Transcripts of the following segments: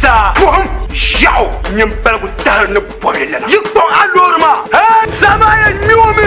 Saa buɣum ʒiɛɣu nyin paligu tahiri ni bɔbili lana. Yi kpaŋ a loori maa. Hee, saa maa yɛn nyoomi.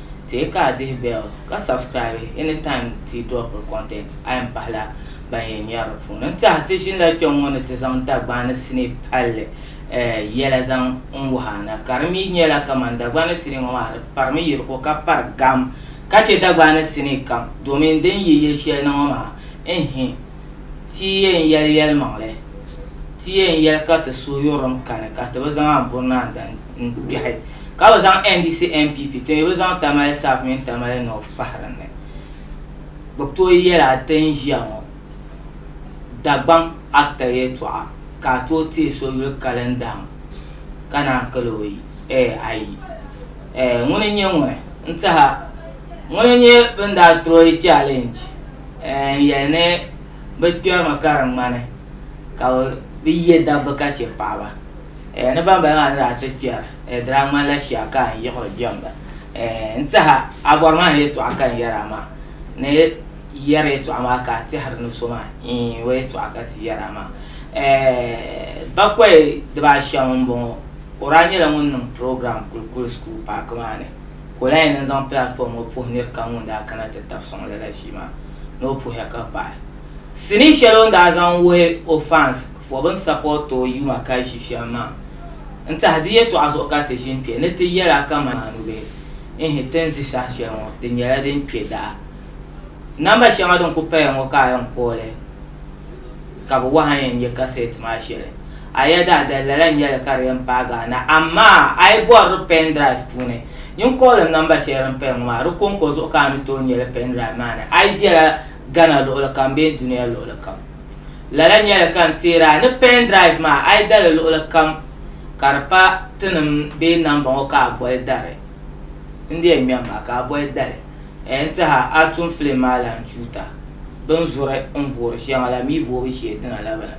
Teei ka a dihi bell ka subscribe anytime ti dropiri content a yɛn pahila ban yɛn nyari di puuni. N tiɛhi ti ʒinila kpɛŋ ŋɔ ni ti zaŋ Dagbani sinii palli yɛla zaŋ n wuhi a na ka di mi nyɛla kaman Dagbani sinii ŋɔ maa di parimi yiriko ka pari gam ka chɛ Dagbani sinii kam domin din yi yili shɛli ni ŋɔ maa n-hi Ti yi yɛn yɛli yɛlimaŋli, ti yɛn yɛli ka ti suhu yurilim kani ka ti bi zaŋ Anburi Naa Dan n-kpɛhi, ka bi zaŋ NDC NPP, ti mi bi zaŋ Tamale South mini Tamale North pahi din ni. Bɛ tooi yɛla ti ni ʒiya ŋɔ Dagbaŋ Actor yɛltɔɣa ka a tooi teei so yuli kalindaam ka naan kali o ayi. Ŋuni n-nyɛ ŋuni n-tihi a? Ŋuna n-nyɛ bɛn daa troyi challenge n-yɛli ni bɛ kpɛrimi ka di ŋmani ka bɛ bi ye dabba ka che paɣaba ni bambala maa ni daa ti kpɛri di daa ŋmanila shia ka n yiɣiri jɛmda n-tiɛha a bɔri ma ni yɛltɔɣa ka n yɛri a maa ni yɛri yɛltɔɣa maa ka a tɛhiri ni so maa iin o yɛltɔɣa ka ti yɛri a maa bakɔi dibaashɛm m-bɔŋɔ o daa nyɛla ŋun niŋ program Kulkul School Paaki maa ni ka o lahi yɛn niŋ zaŋ platform ŋɔ puhi nir kam ŋun daa kana ti tab sɔŋ lala ʒii maa ni o puhiya ka paɣi sinii shɛli o ni daa zaŋ wuhi o fans fɔ bɛn support o yuma ka ʒi shɛm maa n tahi di yɛtɔɣa zuɣu ka ti ʒin kpɛ ni ti yɛla kaman a nubihi ihi ti ni zi saha shɛli ŋɔ di nyɛla din kpɛ daa namba shɛŋa din ku paya ŋɔ ka a yɛn call ka bi wahi a yɛn nyɛ cassette maa shɛli a ya daa dali lala n-nyɛ li ka di yɛn paai Ghana. Amaa a yi bɔri di pen drive puuni, nyin koolin nɔmba shɛli din paya ŋɔ maa, di kɔŋko zuɣu ka a ni tooi nya li pen drive maa ni. A yi bela Ghana luɣili kam bee dunia luɣili kam, lala n-nyɛ li ka n teeri a ni pen drive maa a yi da li luɣili kam ka di pa tinim bee namba ŋɔ ka a boli dari. N di yɛn ŋmɛ m maa ka a boli dali n ti ha a tum filim maa lan tuuta. Bɛ ni zuri n voori shɛŋa la mi voobu shee dina la bala.